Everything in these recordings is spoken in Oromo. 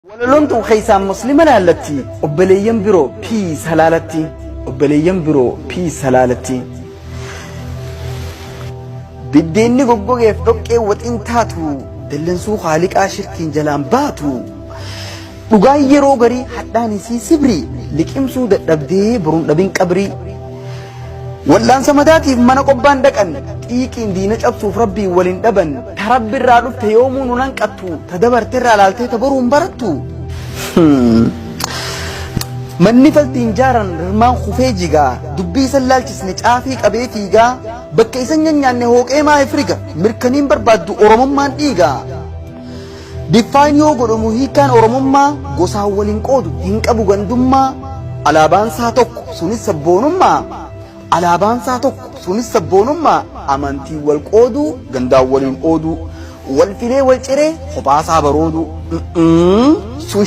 Walaloon tun keessaan muslima laallatti obboleeyyan biroo piis halaalatti obboleeyyan biroo piis halaalatti. Biddeenni goggogeef dhoqqee waxiin taatu dallansuu haaliqaa shirkiin jalaan baatu. Dhugaan yeroo garii hadhaan isii sibrii liqimsuu dadhabdee boruun dhabin qabrii. Wal'aansa mataatiif mana qobbaan dhaqan, xiiqiin diina cabsuuf Rabbiin wal hin dhaban, ta Rabbi irraa dhufte yoomuu nun hanqattu, ta dabarte irraa laaltee ta boru hin barattu. Manni faltiin jaaran rirmaan kufee jigaa, dubbii isan laalchisne caafii qabee fiigaa, bakka isan nyanyaanne hooqee maa ifriga, mirkaniin barbaaddu Oromummaan dhiiga. Define yoo godhamu hiikkaan Oromummaa gosaan wal hin qoodu, hin qabu gandummaa, alaabaan isaa tokko sunis sabboonummaa, alaabaan isaa tokko sunis sabboonummaa, amantiin wal qoodu, gandaan waliin oodu, wal filee wal ciree kophaa isaa baroodu. Mm-mm, sun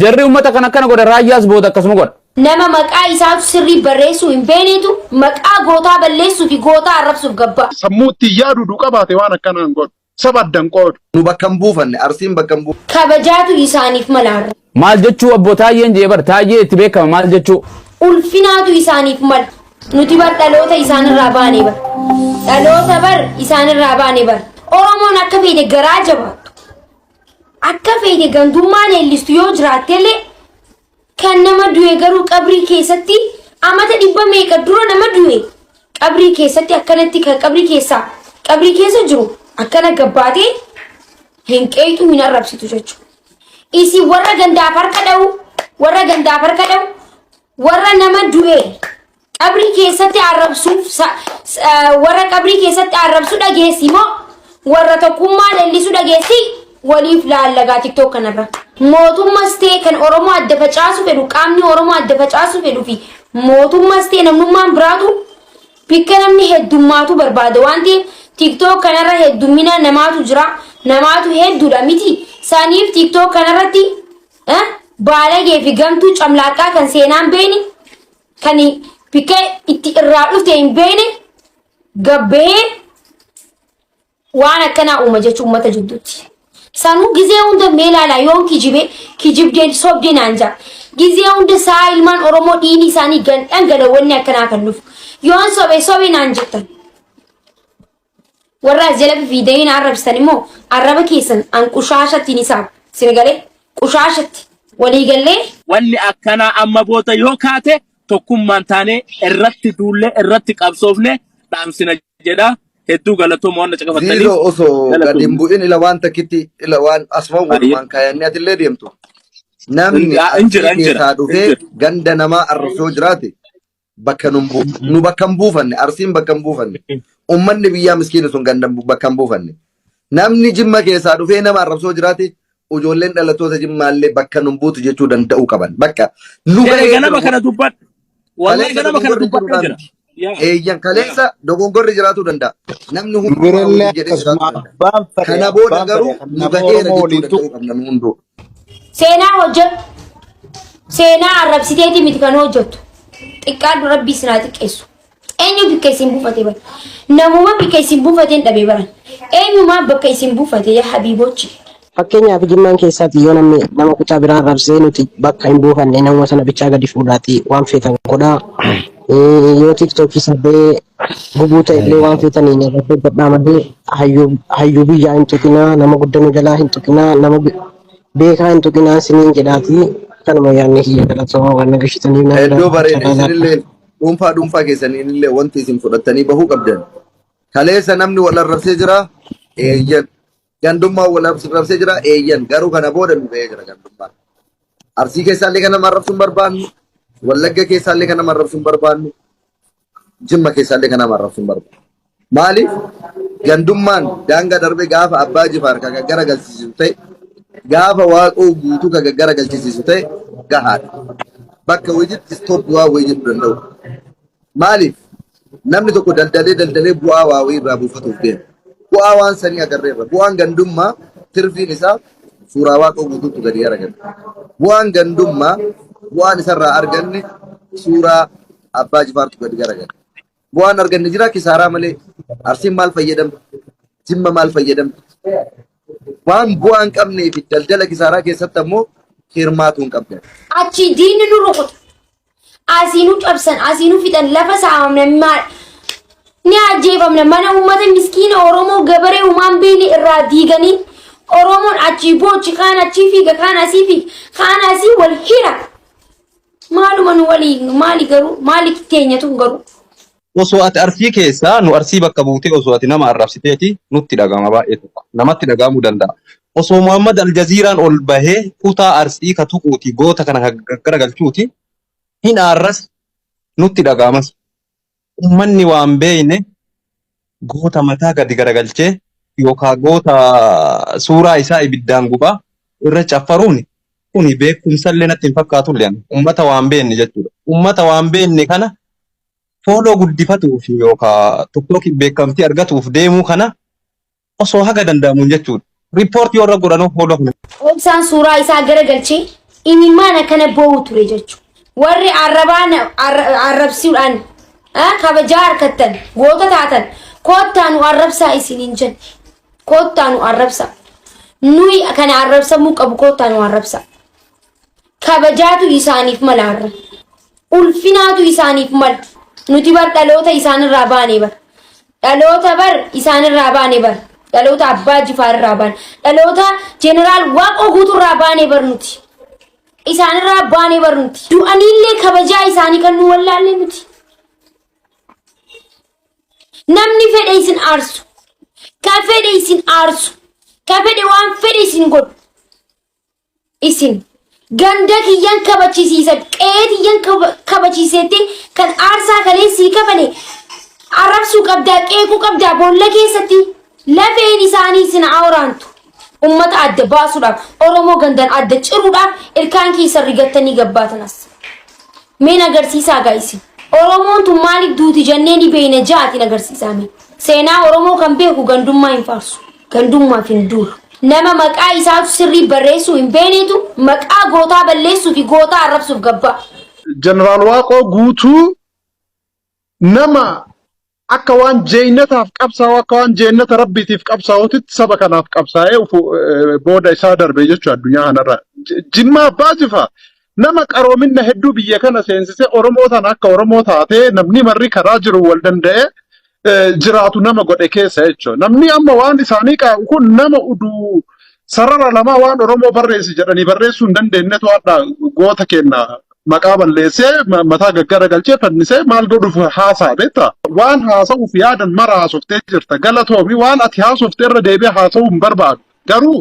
Jarri uummata kan akkana godha raayyaas booda akkasuma godha. Nama maqaa isaatu sirrii barreessuu hin beeknetu maqaa gootaa balleessuu fi gootaa arrabsuuf gabba. Sammuu ittiin yaadu du qabaate waan akkanaa hin godhu. Saba addan qoodu. Nu bakka hin buufanne. Arsiin bakka hin buufanne. Kabajaatu isaaniif mala har'a. Maal jechuu abboo taayyeen jee bar taayyee itti beekama maal jechuu. Ulfinaatu isaaniif mala. Nuti bar dhaloota isaanirraa baane bar. Dhaloota bar isaanirraa baane bar. Oromoon akka beekte garaa jabaattu. Akka feete gantummaa leellistu yoo jiraattellee kan nama du'e garuu qabrii keessatti amata dhibba meeqa dura nama du'e qabrii keessatti akkanatti kan qabrii keessaa qabrii keessa jiru akkana gabbaatee hin qeeyxu hin arrabsitu jechuudha. Isin warra gandaaf harka dha'u warra gandaaf harka dha'u warra nama du'e Qabrii keessatti arrabsuuf warra qabrii keessatti arrabsu dhageessi moo warra tokkummaa leellisu dhageessi waliif laallagaa tiktook kanarra. Mootummas ta'e kan Oromoo adda facaasu fedhu qaamni Oromoo adda facaasu fedhu fi mootummas ta'e namnummaan biraatu bikka namni heddummaatu barbaada waan ta'eef tiktook kanarra heddummina namaatu jira namaatu hedduudha miti saniif tiktook kanarratti baalagee fi gamtuu camlaaqaa kan seenaan beeni Kan bikkee itti irraa dhufte hin beekne gabbahee waan akkanaa uuma jechuun uummata jidduutti. Sanuu gizee hunda mee ilaalaa yoon kijibee kijibdeen sobdee naan ja'a. Gizee hunda sa'a ilmaan Oromoo dhiini isaanii gandhan galawanni akkanaa kan dhufu. Yoon sobe sobe naan jettan. Warra as jala fifiidanii na arrabsitan immoo arraba keessan an qushaashatti ni saama. Isin galee qushaashatti walii gallee Wanni akkanaa amma booda yoo kaate tokkummaan taanee irratti duullee irratti qabsoofne dhaamsina jedha. Hedduu galatooma waan na caqafattaniif. Ziizoo osoo gad hin Galatooma. bu'in ila waan takkitti ila waan asfaan Baay'ee. walumaan kaayannee atillee deemtu. Namni Hin- ah, hin jira, arsii hin jira, keessaa hin dhufee jira. ganda namaa arrabsoo jiraate bakka nun bu nu bakka hin buufanne arsiin bakka hin buufanne ummanni biyyaa miskiina sun ganda bu- bakka hin buufanne namni jimma keessaa dhufee nama arrabsoo jiraate ijoolleen dhalattoota jimmaallee bakka nun buutu jechuu danda'uu qaban bakka nu Ee, gahee ganama jira kana dubbadhe. Wallahi kaleessa ganama kana dogongorri dubbadhee jiruudhaan jira. miti Yaa. eeyyan kaleessa dogongorri jiraachuu danda'a namni Nu hundumaa birallee waliin jedhee jiraachuu akkasuma danda'a abbaan fedhe kana booda abbaan fedhe garuu kan nu nama gaheera Oromoo jechuu waliin danda'uu tuqu qabna nu hunduu Seenaa hojjedhu. Seenaa arrabsiteetii miti kan hojjettu. Xiqqaadhu rabbii isin haa xiqqeessu. Eenyu bikka isin buufate bara? Namuma bikka isin buufateen dhabee bara. Eenyumaa bakka isin buufate yaa habiibochi. Fakkeenyaaf jimmaan keessaati yoo namni nama kutaa biraa arrabsee nuti bakka hin buufanne namuma sana bichaa gadi fuudhaati waan feetan godhaa. Yoo tiiktookii sarbee Gubuu ta'e illee waan feetanii nyaata hojjedhaa malee hayyuu hayyuu biyyaa hin tuqinaa nama guddaa nu jalaa hin tuqinaa nama be- beekaa hin tuqinaa isiniin jedhaati kanuma yaadni kiyya galatoomaa waan nagashitanii naa Hedduu jiraadhaa bareeda carraa laadhaa. isinillee dhuunfaa dhuunfaa keessaniinillee wanti isin fudhattanii bahuu qabdan. Kaleessa namni wal arrabsee jira eeyyan. Gandummaan wal arrabsee jira eeyyan garuu kana booda nu ga'ee jira gandummaan. Arsii keessaallee kan nama arrabsuun barbaannu, Wallagga keessaallee kan nama arrabsuun barbaannu, Jimma keessaallee kan nama arrabsuun barbaannu. Maaliif gandummaan daangaa darbee gaafa abbaa jifaar kan gaggara galchisiisu ta'e, gaafa waaqoo guutuu kan gaggara galchisiisu ta'e gahaadha. Bakka hojiitti stop waan hojii jedhu danda'u. Maaliif? Namni tokko daldalee daldalee bu'aa waa wayii irraa buufatuuf deema. Bu'aa waan sanii agarree irra. Bu'aan gandummaa tirfiin isaa suuraa waaqoo guutuutu gadi aragame. Bu'aan gandummaa bu'aan isarraa arganne suuraa abbaa jifaartu gadi aragame. Bu'aan arganne jira kisaaraa malee arsiin maal fayyadamte? Jimma maal fayyadamte? Waan bu'aa hin qabnee fi daldala kisaaraa keessatti ammoo hirmaatuu hin qabdan. Achii diinni nu rukuta. Asii nu cabsan, asii nu fixan, lafa saamamna, ma- ni ajjeefamna. Mana uummata miskiina Oromoo gabaree humaan beeyne irraa diiganii Oromoon achii boochi, kaan achii fiiga, kaan asii fiiga, kaan asii wal hira. Maaluma nu waliin, maali garuu, maali teenyatu garuu. Osoo ati Arsii keessaa nu Arsii bakka buutee osoo ati nama arrabsiteeti nutti dhaga'ama baay'ee tokko namatti dhaga'amuu danda'a. Osoo Muhammad Aljaziiraan ol bahee kutaa Arsii ka tuquuti goota kana ka gaggaragalchuuti hin aarras nutti dhaga'amas. Ummanni waan beeyne goota mataa gadi garagalchee yookaan goota suuraa isaa ibiddaan gubaa irra caffaruun kuni beekumsallee natti hin fakkaatullee ani. Ummata waan beenne jechuudha. Ummata waan beenne kana fooloo guddifatuu fi yookaan tokkookiin beekamtii argatuuf deemuu kana osoo haga danda'amuun jechuudha. Riippoortii warra godhanoo fooloo kana. Obsaan suuraa isaa gara galchee imimmaan akkana boo'u ture jechu. Warri arrabaa na- arra- arrabsuudhaan ah, kabajaa harkattan goota taatan koottaa nu arrabsaa isiniin jenna. Koottaa nu arrabsaa. Nuyi kana arrabsamuu qabu koottaa nu arrabsaa. Kabajaatu isaaniif mala har'a. ulfinaatu isaaniif mala. Nuti bar dhaloota isaanirraa baane bar. Dhaloota bar isaanirraa baane bar. Dhaloota abbaa jifaarirraa baane. Dhaloota jeneraal waaqoo guuturraa baane bar nuti. Isaanirraa baane bar nuti. Du'aniillee kabajaa isaanii kan nu wallaalle nuti. Namni fedhe isin aarsu. Ka fedhe isin aarsu. Ka fedhe waan fedhe isin godhu. isin ganda kiyyan kabachisiisa qe'ee tiyyan kaba- kabachiiseetti kan aarsaa kalee sii kafale arrabsuu qabdaa qeequu qabdaa boolla keessatti lafeen isaanii isin haa waraantu ummata adda baasuudhaaf oromoo gandan adda ciruudhaaf ilkaan keessan rigattanii gabbaatanas meen agarsiisaa gaa isin oromoon tun maaliif duuti jennee ni beeyna jaatiin agarsiisaa mee seenaa oromoo kan beeku gandummaa hin faarsu Gandummaaf hin duulu. Nama maqaa isaatu sirrii barreessuu hin beeneetu maqaa gootaa balleessuu fi gootaa arrabsuuf gabbaa. Jeneraal Waaqoo Guutuu nama akka waan jeeynataaf qabsaa'u akka waan jeennata rabbiitiif qabsaa'utitti saba kanaaf qabsaa'ee ufu- eh, booda isaa darbe jechuu addunyaa kanarra. J- Jimmaa Abbaa Jifa Nama qaroominna hedduu biyya kana seensisee Oromoo tana akka Oromoo taatee namni marri karaa jiru wal danda'ee eh, jiraatu nama godhe keessa jechuudha. Namni amma waan isaanii qaa'u kun nama uduu sarara lamaa waan Oromoo barreessi jedhanii barreessuu hin dandeenyetu hadha goota kenna maqaa balleessee ma- mataa gaggara galchee fannisee maal godhuuf haasaa beektaa? Waan haasa'uuf yaadan mara haasoftee jirta. Galatoomi waan ati haasofte irra deebi'ee haasa'uu hin barbaadu. Garuu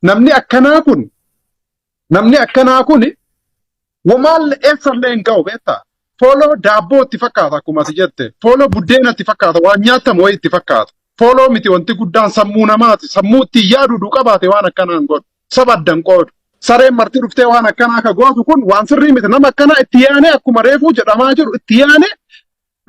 namni akkanaa kun Namni akkanaa kun wamaalle eessallee hin ka'u beektaa? Fooloo daabboo itti fakkaata akkuma ati jette. Fooloo buddeena itti fakkaata. Waan nyaatamu wayii itti fakkaata. Fooloo miti wanti guddaan sammuu namaati. Sammuu ittiin yaadu du qabaate waan akkanaa hin godhu. Saba adda hin qoodu. Sareen marti dhuftee waan akkanaa akka gootu kun waan sirrii miti. Nama akkanaa itti yaanee akkuma reefuu jedhamaa jiru itti yaanee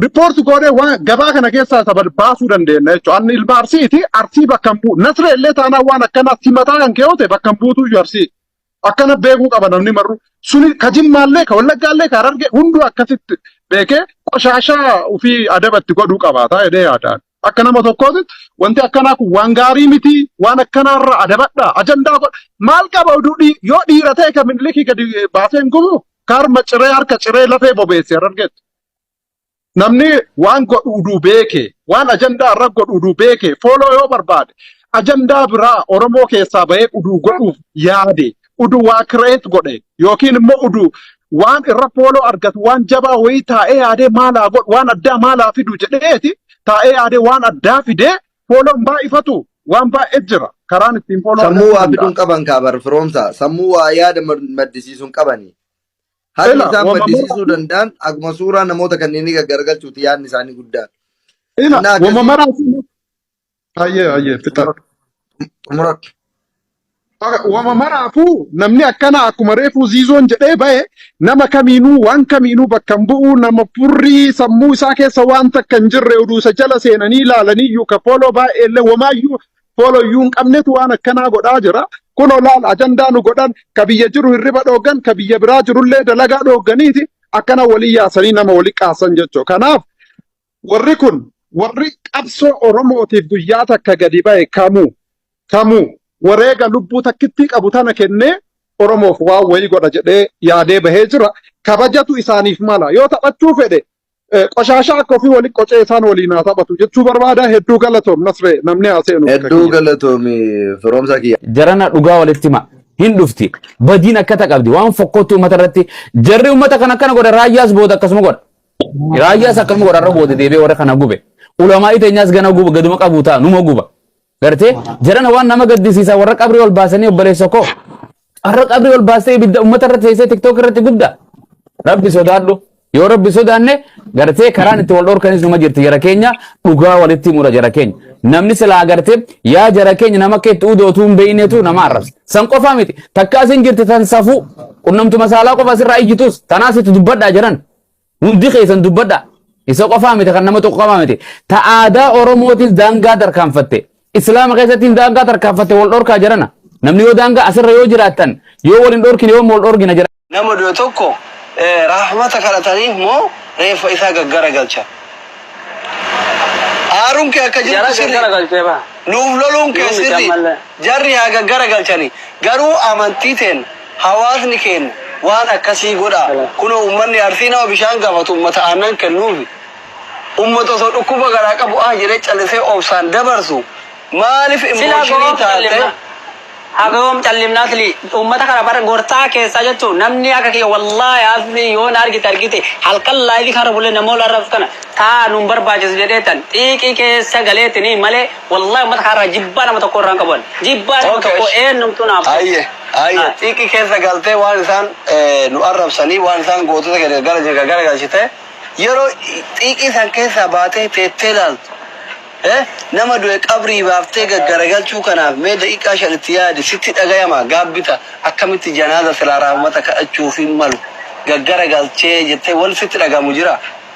Report goonee waan gabaa kana keessaa isa bad- baasuu dandeenya jechuudha. Anni ilma Arsiiti, Arsii bakka hin bu'u. Nasree illee taanaan waan akkanaa simataa kan kee ta'e bakka hin buutu iyyuu Arsii. Akkana beekuu qaba namni marru. Suni ka jimmaallee, ka wallaggaallee, ka harargee hunduu akkasitti beekee qoshaashaa ofii adabatti godhuu qabaata jedhee yaadaan. Akka nama tokkootti wanti akkanaa kun waan gaarii miti, waan akkanaarra adabadha, ajandaa godha. Maal qaba oduu dhii- yoo dhiira ta'e ka mililikii gadi baasee hin gubu? Ka harma ciree harka ciree lafee bobeesse harargeetti. Namni waan godhu uduu beeke, waan ajandaa irra godhu uduu beeke, fooloo yoo barbaade, ajandaa biraa Oromoo keessaa bahee uduu godhuuf yaade, uduu waa kireet godhe, yookiin immoo uduu waan irra fooloo argatu waan jabaa wayii taa'ee yaadee maal haa godhu, waan addaa maal haa fidu jedheeti taa'ee yaadee waan addaa fidee fooloon baay'ifatu waan baay'ee jira. Karaan ittiin fooloo Sammuu argachuu waa fiduun danda'an. qaban kaa bar firoomsaa. Sammuu waa yaada mad- maddisiisuun qabani. Haalli Ila, isaan wama maddisiisuu maraatu, danda'an akkuma suuraa namoota kanneenii gaggaragalchuuti yaadni isaanii guddaan. ila, Innaa wama akkasii maraatu. Ayyee, ayyee, fixa. xumuradhu. Aka- Wama maraafuu namni akkana akkuma reefuu ziizoon jedhee bahe nama kamiinuu waan kamiinuu bakka hin bu'u nama furrii sammuu isaa keessa waan takka hin jirre oduu isa jala seenanii ilaalanii iyyuu ka fooloo baay'eellee wamaayyuu fooloyyuu hin qabnetu waan akkanaa godhaa jira. Kun olaal ajandaa nu godhan ka biyya jiru hirriba dhooggan ka biyya biraa jirullee dalagaa dhoogganiiti akkana walii yaasanii nama wali qaasan jechuu. Kanaaf warri kun warri qabsoo Oromootiif guyyaa takka gadi ba'e kamuu kamuu wareega lubbuu takkittii qabu tana kennee Oromoof waan wayii godha jedhee yaadee bahee jira. Kabajatu isaaniif mala. Yoo taphachuu fedhe Eh, Qoshaashaa akka ofii waliin qocee isaan waliin haa taphatu jechuu barbaada hedduu galatoom nasree namni haa seenu bakka Hedduu kiyya. galatoomi firoomsaa kiyya. jarana dhugaa walitti hima hin dhufti badiin akkata qabdi waan fokkootti uummata irratti jarri uummata kan akkana godha raayyaas booda akkasuma godha raayyaas akkasuma godha irra booda deebi'ee warra kana gube ulamaa iteenyaas gana guba gaduma qabu ta'a numa guba Gartee jarana waan nama gaddisiisa warra qabrii ol baasanii obboleessa koo. Warra qabrii ol baastee ibidda uummata irratti teessee tiktook irratti gubda. Rabbi sodaadhu. Yoo rabbi sodaanne gartee karaan itti wal dhorkanis numa jirti jara keenya dhugaa walitti himudha jara keenya. Namni silaa gartee yaa jara keenya nama akka itti udootuu hin beeynetu nama arrabsa. San qofaa miti. Takka asin jirti tan safuu qunnamtuma saalaa qofa asirraa iyyitus tanaas itti dubbadhaa jiran. Hundi keessan dubbadha. Isa qofaa miti kan nama tokko qofaa miti. Ta aadaa Oromootis daangaa tarkaanfatte. Islaama keessattis daangaa tarkaanfatte wal dhorkaa jirana. Namni yoo daangaa asirra yoo jiraattan yoo wal hin dhorkine yoo wal dhorgina jira. Nama du'e tokko eh, rahmata kadhataniif moo reeffa isaa gaggara galcha. Aaruun kee akka jirtu sirri. Nuuf loluun kee sirri. Jarri haa gaggara galchani. Garuu amantii teen Hawaasni keenya waan akkasii godhaa. Kunoo ummanni Arsii nama bishaan gaafatu ummata aannan kennuufi. Ummata osoo dhukkuba garaa qabu ah jedhee callisee obsaan dabarsu maaliif Silaa emotion goom taate? callimna. Hagoom callimna sli ummata kana bar gorsaa keessaa jechuun namni akka kiyya wallahi asli yoo na argite argite halkan live kana bule namool arrabsu kana taa nun barbaachisu jedheetan xiiqii keessa galeetini malee Wallahi ummata kaarraa jibbaa nama tokko irraan qabu ani. Jibbaa nama Okay, tokko esh. eenyumtuu naaf ta'u. Ayye, ayye. Ah. Xiiqii keessa galtee waan isaan eh, nu arrabsanii, waan isaan gootota keenya gara jirga gara galchite. Yeroo xiiqii san keessaa baatee teettee laaltu. Eh, nama du'e qabrii baaftee gaggaragalchuu kanaaf mee daqiiqaa shan itti yaadi sitti dhagayama gaabbita akkamitti janaaza silaa raahmata kadhachuuf hin malu gaggaragalchee jettee wal sitti dhagamu jira.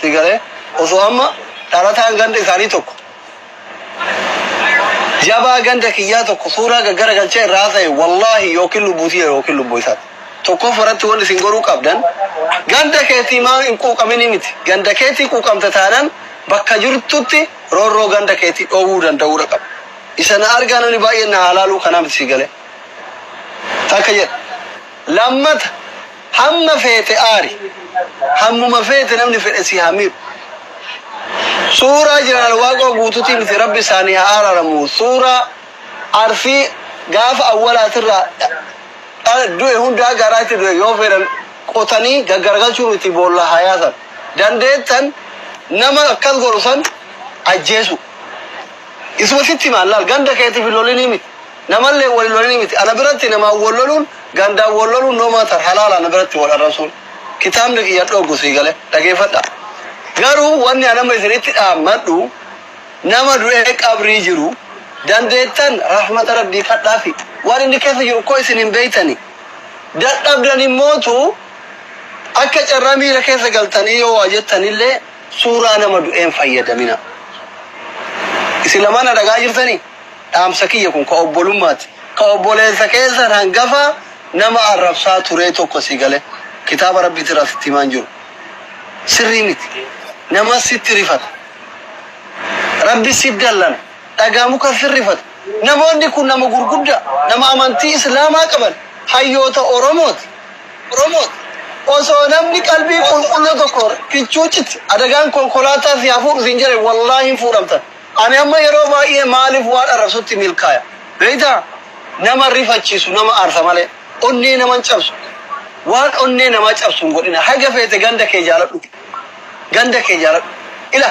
Si galee? Osoo amma dhalataan ganda isaanii tokko jabaa ganda kiyyaa tokko suuraa gaggara galchee irraa haasa'e wallaahi yookiin lubbuu tiyya yookiin lubbuu isaati. Tokkoffaa irratti wanni isin goruu qabdan ganda keetii maa hin quuqaminii miti. Ganda keetii quuqamta taanan bakka jirtutti roorroo ganda keetii dhoowwuu danda'uudha qaba. Isa na argaa namni baay'een na haalaaluu kanaa miti si galee? Takka jedha. Lammata Hamma feete aari. Hammuma feete namni fedhe si haa miidhu. Suuraa Jeneraal Waaqoo Guutuutii miti Rabbi isaanii haa araaramu suuraa Arfii gaafa awwalaatirraa dhala du'e hunda haga har'aatti du'e yoo fedhan qotanii gaggaragalchuun itti boolla haa yaasan. Dandeettan nama akkas godhu san ajjeesuu. Isuma sitti himaan laal ganda keetiif hin lolinii miti Namalleen wal hin lolini miti. Ana biratti namaan wal loluun, gandaan wal loluun no matter, halaala ana biratti wal arrabsuun. Kitaabni kiyya hin dhooggu sii galee? Dhageeffadhaa. Garuu wanni ani amma isinitti dhaammadhu nama du'ee qabrii jiru dandeettan rahmata Rabbii kadhaafi. Waan inni keessa jiru koo isin hin beeytani. Dadhabdan immootu akka carraa miira keessa galtanii yoo waa jettanillee suuraa nama du'ee hin fayyadaminaa. Isin lamaan na dhaga'aa jirtanii? Dhaamsa kiyya kun ka obbolummaati. Ka obboleessa keessan hangafa nama arrabsaa turee tokko si galee kitaaba Rabbiitii irraa sitti himaa hin jiru. Sirrii miti. Namas sitti rifata. Rabbis si dallana. Dhagaa mukas sin rifata. Namoonni kun nama gurguddaa, nama amantii Islaamaa qaban, hayyoota Oromooti. Osoo namni qalbii qulqulluu tokko kichuu cit adagaan konkolaataa si haa fuudhu siin jedhe wallaahi hin fuudhamtan. Ani amma yeroo baay'ee maaliif waan arrabsutti milkaaya beektaa? Nama rifachiisu, nama aarsa malee onnee nama hin cabsu. Waan onnee namaa cabsu hin godhina. Haga feete ganda kee jaaladhu. Ganda kee jaaladhu. Ila.